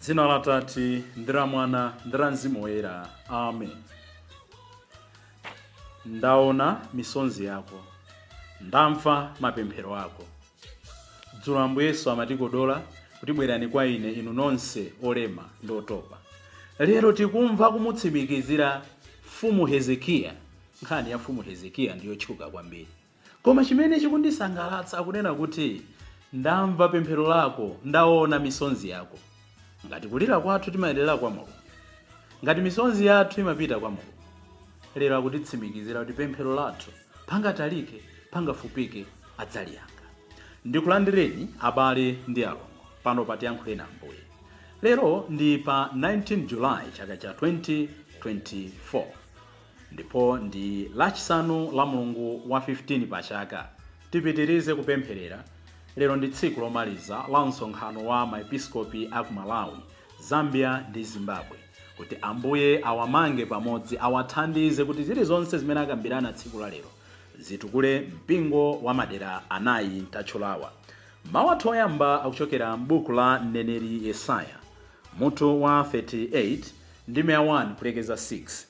dzina la Atate ndi la mwana ndi la mzimu woyera amen ndaona misonzi yako ndamva mapemphero ako Dzulo Ambuye Yesu amatikodola kuti bwerani kwa ine inu nonse olema ndi otopa. Lero tikumva kumutsimikizira Mfumu Hezekiya. Nkhani ya Mfumu Hezekiya ndi yotchuka kwambiri. Koma chimene chikundisangalatsa akunena kuti, ndamva pemphero lako, ndaona misonzi yako. Ngati kulira kwathu timayendera kwa Mulungu, ngati misonzi yathu imapita kwa Mulungu, lero akutitsimikizira kuti pemphero lathu, pangatalike, pangafupike, adzaliyankha. Ndikulandireni abale ndi alongo pano pa Tiyankhuleni Ambuye. Lero ndi pa 19 July chaka cha 2024. Ndipo ndi Lachisanu, la mlungu wa 15 pa chaka. Tipitirize kupempherera, lero ndi tsiku lomaliza la msonkhano wa ma Episkopi a ku Malawi, Zambia ndi Zimbabwe, kuti Ambuye awamange pamodzi, awathandize kuti zilizonse zimene akambirana tsiku la lero zitukule Mpingo wa madera amene tatchulawa. Mau athu oyamba akuchokera m'buku la mneneri Yesaya, mutu wa 38, ndime ya 1 kulekeza 6.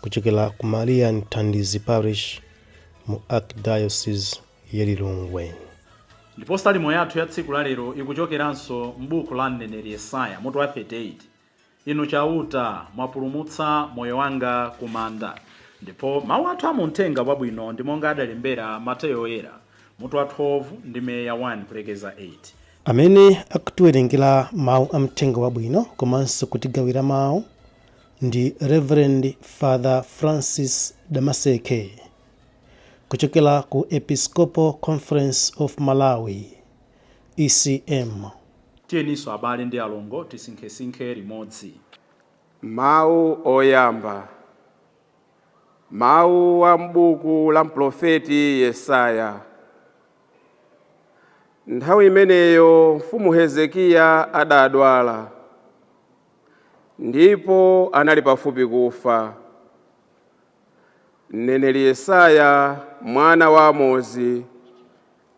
kuchokera ku maria mthandizi parish mu archdiocese ya lilongwe ndipo salimo yathu ya tsiku la lero ikuchokeranso m'buku la mneneri yesaya mutu wa 38 inu chauta mwapulumutsa moyo wanga ku manda ndipo mawu athu a mumthenga wabwino ndi monga adalembera mateyo oyera mutu wa 12 ndime ya 1 kulekeza 8 amene akutiwerengera mawu a mthenga wabwino komanso kutigawira mawu ndi Reverend Father Francis Damaseke kuchokera ku Episcopal Conference of Malawi ECM. Tiyeni tsono abale ndi alongo tisinkhesinkhe limodzi. Mawu Oyamba, Mawu a m'buku la mprofeti Yesaya. Nthawi imeneyo mfumu Hezekiya adadwala. ndipo anali pafupi kufa. Mneneri Yesaya mwana wa Amozi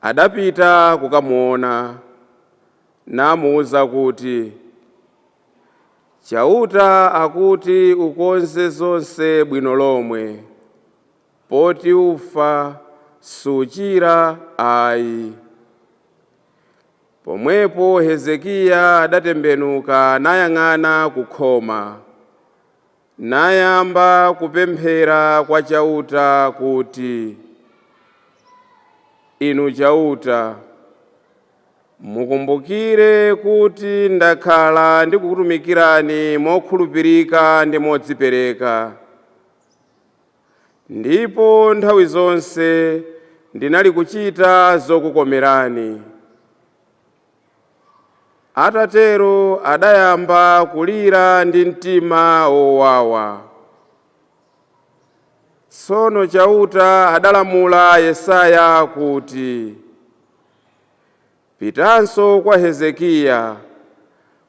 adapita kukamuona namuuza kuti, Chauta akuti ukonze zonse bwino lomwe, poti ufa suchira ayi. Pomwepo Hezekiya adatembenuka nayang'ana ku khoma, nayamba kupemphera kwa Chauta kuti, Inu Chauta, mukumbukire kuti ndakhala ndikukutumikirani mokhulupirika ndi modzipereka. ndipo nthawi zonse ndinali kuchita zokukomerani. Atatero adayamba kulira ndi mtima wowawa. Tsono Chauta adalamula Yesaya kuti, Pitanso kwa Hezekiya,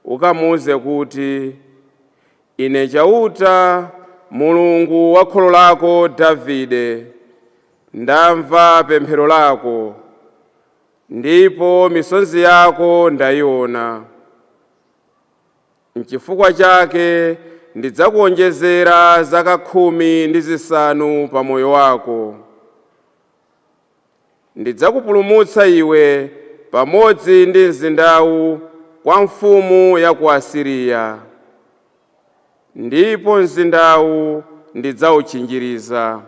ukamuuze kuti, Ine Chauta, Mulungu wa kholo lako Davide, ndamva pemphero lako, ndipo misonzi yako ndaiwona. Nchifukwa chake ndidzakuwonjezera zaka khumi ndi zisanu pa moyo wako. Ndidzakupulumutsa iwe pamodzi ndi mzindawu kwa mfumu ya ku Asiriya, ndipo mzindawu ndidzautchinjiriza.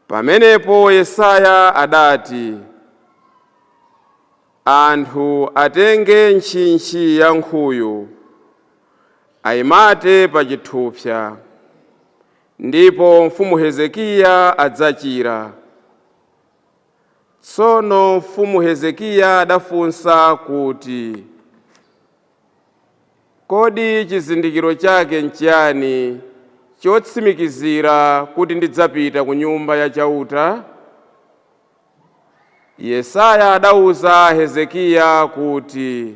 Pamenepo Yesaya adati, Anthu atenge ntchintchi ya nkhuyu, aimate pa chithupsa, Ndipo mfumu Hezekiya adzachira. Tsono mfumu Hezekiya adafunsa kuti, Kodi chizindikiro chake nchiyani chotsimikizira kuti ndidzapita ku nyumba ya Chauta? Yesaya adauza Hezekiya kuti.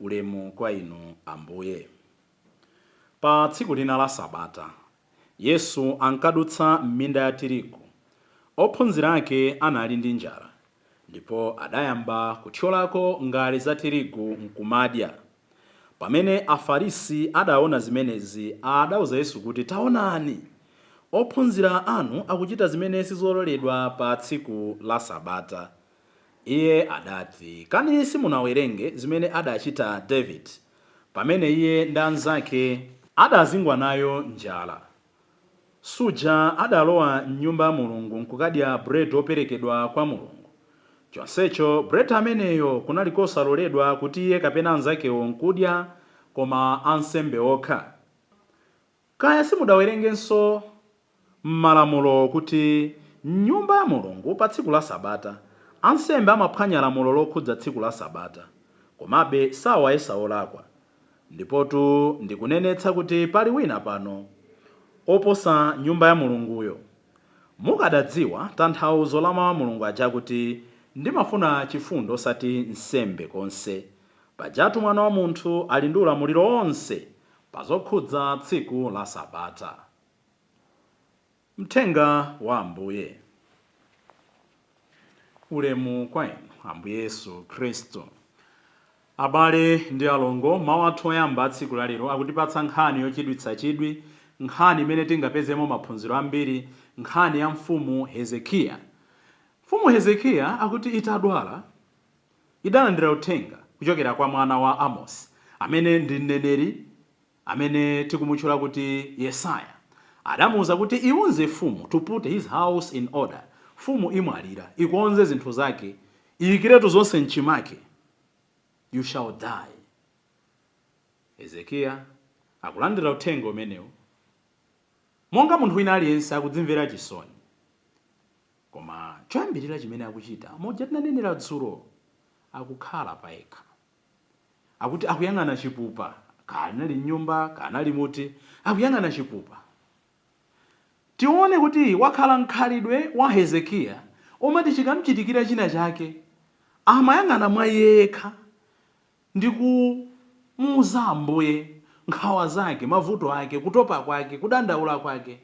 Ulemu kwa Inu, Ambuye. Pa tsiku lina la Sabata, Yesu ankadutsa m'minda ya tirigu. Ophunzira ake anali ndi njala ndipo adayamba kuthyolako ngale za tirigu nkumadya. Pamene Afarisi adaona zimenezi, adauza Yesu kuti, Taonani! Ophunzira anu akuchita zimene sizololedwa pa tsiku la Sabata. Iye adati, Kani simunawerenge zimene adachita David pamene iye ndi anzake adazingwa nayo njala? Suja adalowa m'Nyumba ya Mulungu nkukadya buledi woperekedwa kwa Mulungu? Chonsecho buledi ameneyo kunali kosaloledwa kuti iye kapena anzakewo nkudya, koma ansembe okha. Kaya simudawerengenso m'malamulo kuti m'Nyumba ya Mulungu pa tsiku la Sabata, ansembe amaphwanya lamulo lokhudza tsiku la Sabata. Komabe sawayesa olakwa. Ndipotu ndikunenetsa kuti pali wina pano oposa Nyumba ya Mulunguyo. Mukadadziwa tanthauzo la mau a Mulungu aja akuti, Ndimafuna chifundo osati nsembe konse. Pajatu Mwana wa Munthu ali ndi ulamuliro wonse pa zokhudza tsiku la Sabata. Mthenga wa Ambuye. Ulemu kwa Inu, Ambuye Yesu Khristu. Abale ndi alongo, mau athu oyamba a tsiku la lero akutipatsa nkhani yochititsa chidwi, nkhani imene tingapezemo maphunziro ambiri, nkhani ya Mfumu Hezekiya. Mfumu Hezekiya akuti itadwala. idalandira uthenga kuchokera kwa mwana wa Amosi, amene ndi mneneri amene tikumutchula kuti Yesaya. Adamuuza kuti, Iuze mfumu to put his house in order, Mfumu imwalira, ikonze zinthu zake, iyikiretu zonse m'chimake. You shall die. Hezekiya akulandira uthenga umenewu monga munthu wina aliyense, akudzimvera chisoni. Koma choyambirira chimene akuchita, moja tinanenera dzulo, akukhala payekha. Akuti akuyang'ana chipupa, kaya anali m'nyumba, kaya anali muti, akuyang'ana chipupa. Tione kuti wakhala mkhalidwe wa Hezekiya umati chikamchitikira china chake, amayang'ana mwa iye yekha ndi kumuuza Ambuye nkhawa zake, mavuto ake, kutopa kwake, kudandaula kwake.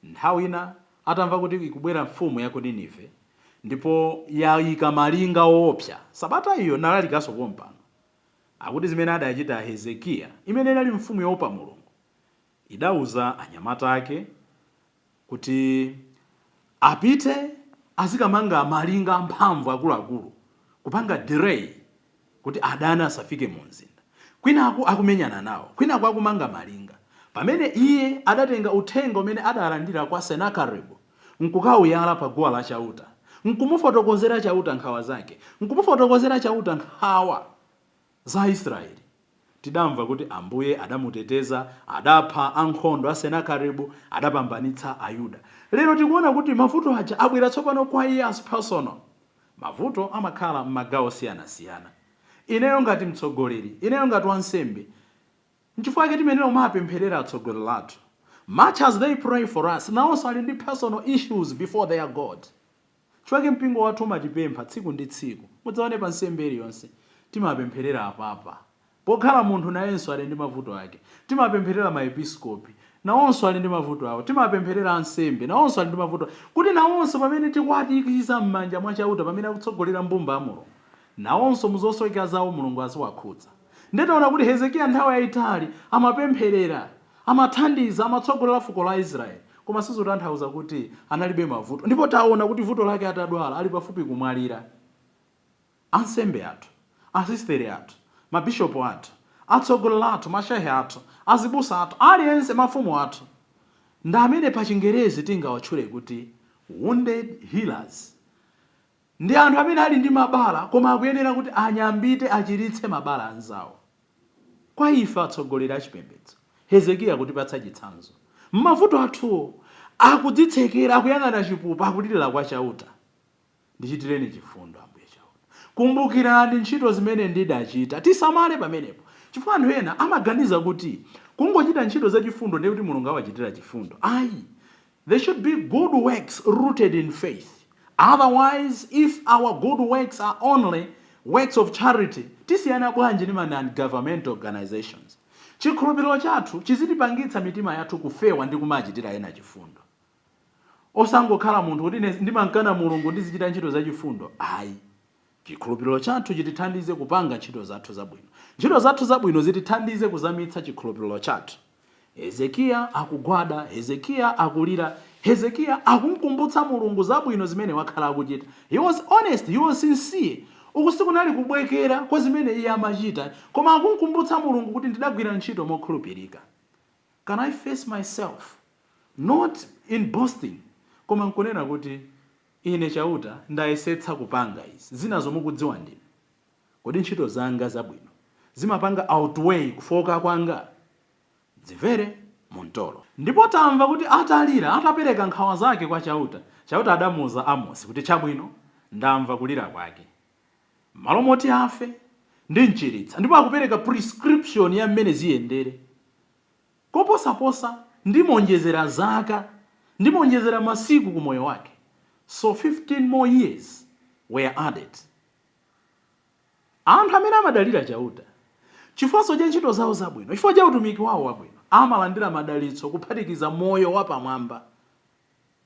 Nthawi ina atamva kuti ikubwera mfumu ya ku Ninive, ndipo yaika malinga oopsa, sabata iyo nalalikanso pompano. Akuti zimene adachita Hezekiya, imene inali mfumu yoopa Mulungu, idauza anyamata ake kuti apite azikamanga malinga amphamvu akuluakulu, kupanga delay kuti adani asafike mu mzinda, kwinaku akumenyana nawo, kwinaku akumanga malinga, pamene iye adatenga uthenga umene adalandira kwa Senakeribu, nkukauyala pa guwa la Chauta, nkumufotokozera Chauta nkhawa zake, nkumufotokozera Chauta nkhawa za Aisraele. Tidamva kuti Ambuye adamuteteza, adapha ankhondo a Senakeribu, adapambanitsa Ayuda. Lero tikuona kuti mavuto aja abwera tsopano kwa iye as personal. Mavuto amakhala mmagawo osiyanasiyana. Ineyo ngati mtsogoleri, ineyo ngati wansembe, nchifukwa chake timayenera kumawapempherera atsogoleri athu. Much as they pray for us, nawonso ali ndi personal issues before their God. Nchifukwa chake mpingo wathu umatipempha tsiku ndi tsiku. Mudzaone pa nsembe iliyonse, timapempherera apapa. Pokhala munthu nayenso ali ndi mavuto ake. Timapempherera ma episkopi, nawonso ali ndi mavuto awo. Timapempherera ansembe, nawonso ali ndi mavuto awo. Kuti nawonso pamene tikuwatuikiza m'manja mwa Chauta pamene akutsogolera mbumba ya Mulungu, nawonso mu zosowekera zawo Mulungu aziwakhudza. Ndiye taona kuti Hezekiya nthawi yaitali amapempherera, amathandiza, amatsogolera fuko la Israele, koma sizotanthauza kuti analibe mavuto. Ndipo taona kuti vuto lake atadwala, ali pafupi kumwalira. Ansembe athu, asistere athu, mabishopu athu, atsogoleri athu, mashehe athu, azibusa athu, aliyense, mafumu athu, ndi amene pachingerezi tingawatchule kuti wounded healers, ndi anthu amene ali ndi mabala koma akuyenera kuti anyambite, achiritse mabala a anzawo. Kwa ife atsogoleri achipembedzo, Hezekiya akutipatsa chitsanzo. M'mavuto athuwo, akudzitsekera, akuyang'ana chipupa, akulirira kwa Chauta. Ndichitireni chifundo, Ambuye Chauta. Kumbukirani ntchito zimene ndidachita. Tisamale pamenepo, chifukwa anthu ena amaganiza kuti kungochita ntchito zachifundo ndiye kuti Mulungu awachitira chifundo. Ayi, there should be good works rooted in faith, otherwise if our good works are only works of charity, tisiyana bwanji ndi ma non-governmental organizations? Chikhulupiriro chathu chizitipangitsa mitima yathu kufewa ndi kumachitira ena chifundo. Osangokhala munthu kuti ndimamkana Mulungu ndizichita ntchito za chifundo ayi. Chikhulupiliro chathu chitithandize kupanga ntchito zathu zabwino. Ntchito zathu zabwino zitithandize kuzamitsa chikhulupiliro chathu. Hezekiya akugwada, Hezekiya akulira, Hezekiya akumkumbutsa Mulungu zabwino zimene wakhala akuchita. He was honest, he was sincere. Uku sikunali kubwekera kwa zimene iye amachita koma akumkumbutsa Mulungu kuti ndidagwira ntchito mokhulupirika. Can I face myself? Not in boasting, koma nkunena kuti, Ine Chauta ndayesetsa kupanga izi. Zinazo mukudziwa ndinu. Kodi ntchito zanga zabwino zimapanga outweigh kufooka kwanga? Dzimvere mu mtolo. Ndipo tamva kuti atalira, atapereka nkhawa zake kwa Chauta, Chauta adamuuza Amosi kuti, Chabwino, ndamva kulira kwake. M'malo moti afe, ndimchiritsa, ndipo akupereka prescription ya mmene ziyendere. Koposaposa, ndimonjezera zaka, ndimonjezera masiku ku moyo wake. So fifteen more years were added. Anthu amene amadalira Chauta chifukwanso cha ntchito zao zabwino, chifukwa cha utumiki wao wabwino, amalandira madalitso kuphatikiza moyo wapamwamba.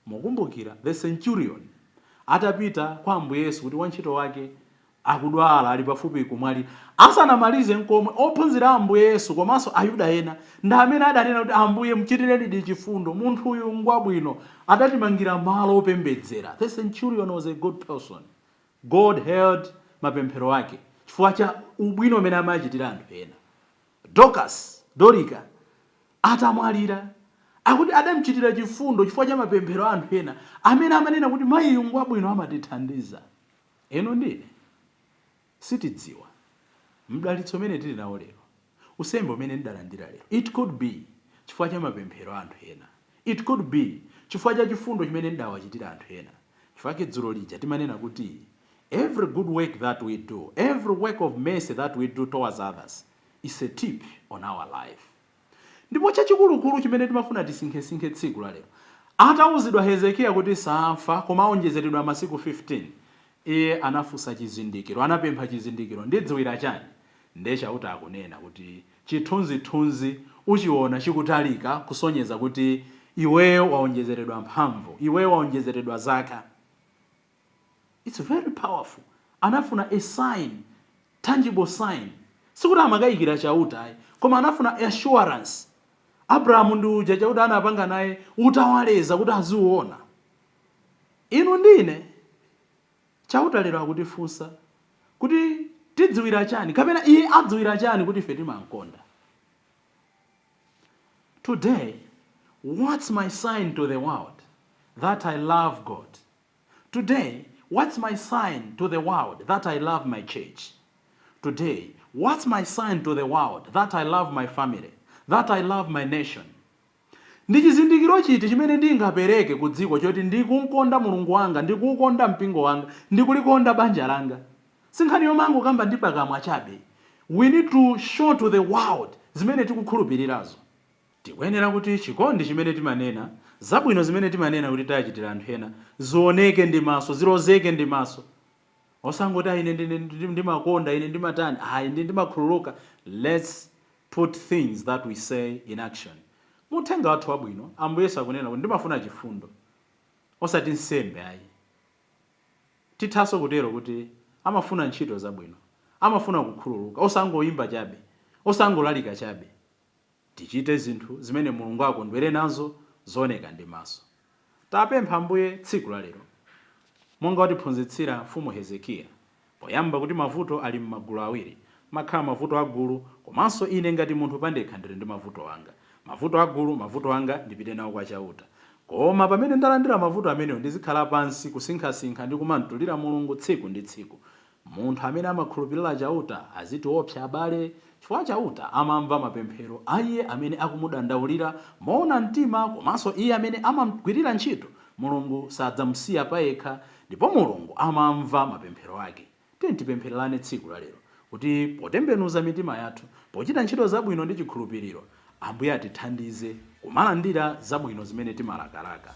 Mukumbukira the centurion atapita kwa Ambuye Yesu kuti wantchito wake akudwala, ali pafupi kumwalira. Asanamalize nkomwe, ophunzira a Ambuye Yesu komanso Ayuda ena ndi amene adanena kuti, Ambuye, mchitirenidi chifundo, munthuyu ngwabwino, adatimangira malo opembedzera. The centurion was a good person. God heard mapemphero ake chifukwa cha ubwino umene amachitira anthu ena. Dorcas, Dorika, atamwalira, akuti adamchitira chifundo chifukwa cha mapemphero a anthu ena amene amanena kuti mayiyu ngwabwino amatithandiza. Inu ndi ine sitidziwa mdalitso umene tili nawo lero, unsembe umene ndidalandira lero. It could be chifukwa cha mapemphero a anthu ena. It could be chifukwa cha chifundo chimene ndidawachitira anthu ena. Chifukwa chake dzulo lija timanena kuti every good work that we do, every work of mercy that we do towards others is a tip on our life. Ndipo chachikulukulu chimene timafuna tisinkhesinkhe tsiku la lero, atauzidwa Hezekiya kuti saamfa koma aonjezeredwa masiku 15, iye anafunsa chizindikiro, anapempha chizindikiro, ndidziwira chani? Ndiye Chauta akunena kuti. Chithunzithunzi uchiwona chikutalika kusonyeza kuti iweyo wawonjezeredwa mphamvu, iweyo wawonjezeredwa zaka. It's very powerful. Anafuna a sign, tangible sign. Sikuti amakayikira Chauta ayi, koma anafuna assurance. Abrahamu ndi uja Chauta anapanga naye utawaleza kuti aziuona. Inu ndi ine. Chauta lero akutifunsa kuti tidziwira chani kapena iye adziwira chani kuti ife timamkonda? Today what's my sign to the world that I love God? Today what's my sign to the world that I love my church? Today what's my sign to the world that I love my family, that I love my nation? Ndi chizindikiro chiti chimene ndingapereke ku dziko choti ndikumkonda Mulungu wanga, ndikuukonda mpingo wanga, ndikulikonda banja langa? Si nkhani yomangokamba ndi pakamwa chabe, we need to show to the world zimene tikukhulupirirazo. Tikuyenera kuti chikondi chimene timanena, zabwino zimene timanena kuti tachitira anthu ena, zioneke ndi maso, zilozeke ndi maso. Osangoti ayi ine ndine, ndimakonda, ine ndimatani, ayi ine ndimakhululuka, let's put things that we say in action mu uthenga wathu wabwino Ambuye Yesu akunena kuti ndimafuna chifundo osati nsembe ayi tithanso kutero kuti amafuna ntchito zabwino amafuna kukhululuka osangoimba chabe osangolalika chabe tichite zinthu zimene Mulungu angakondwere nazo zooneka ndi maso. Tapempha Ambuye tsiku la lero, monga watiphunzitsira Mfumu Hezekiya, poyamba kuti mavuto ali m'magulu awiri, mmakhala mavuto a gulu, komanso ine ngati munthu pandekha ndiri ndi mavuto anga. Mavuto a gulu, mavuto anga, ndipite nawo kwa Chauta. Koma pamene ndalandira mavuto amenewo ndizikhala pansi, kusinkhasinkha ndi kumamtulira Mulungu tsiku ndi tsiku. Munthu amene amakhulupirira Chauta azitiwopsa abale, chifukwa Chauta amamva mapemphero a iye amene akumudandaulira moona mtima komanso iye amene amamgwirira ntchito, Mulungu sadzamusiya payekha, ndipo Mulungu amamva mapemphero ake. Tiyeni tipemphererane tsiku lalero kuti potembenuza mitima yathu, pochita ntchito zabwino ndi chikhulupiriro, Ambuye atithandize kumalandira zabwino zimene timalakalaka.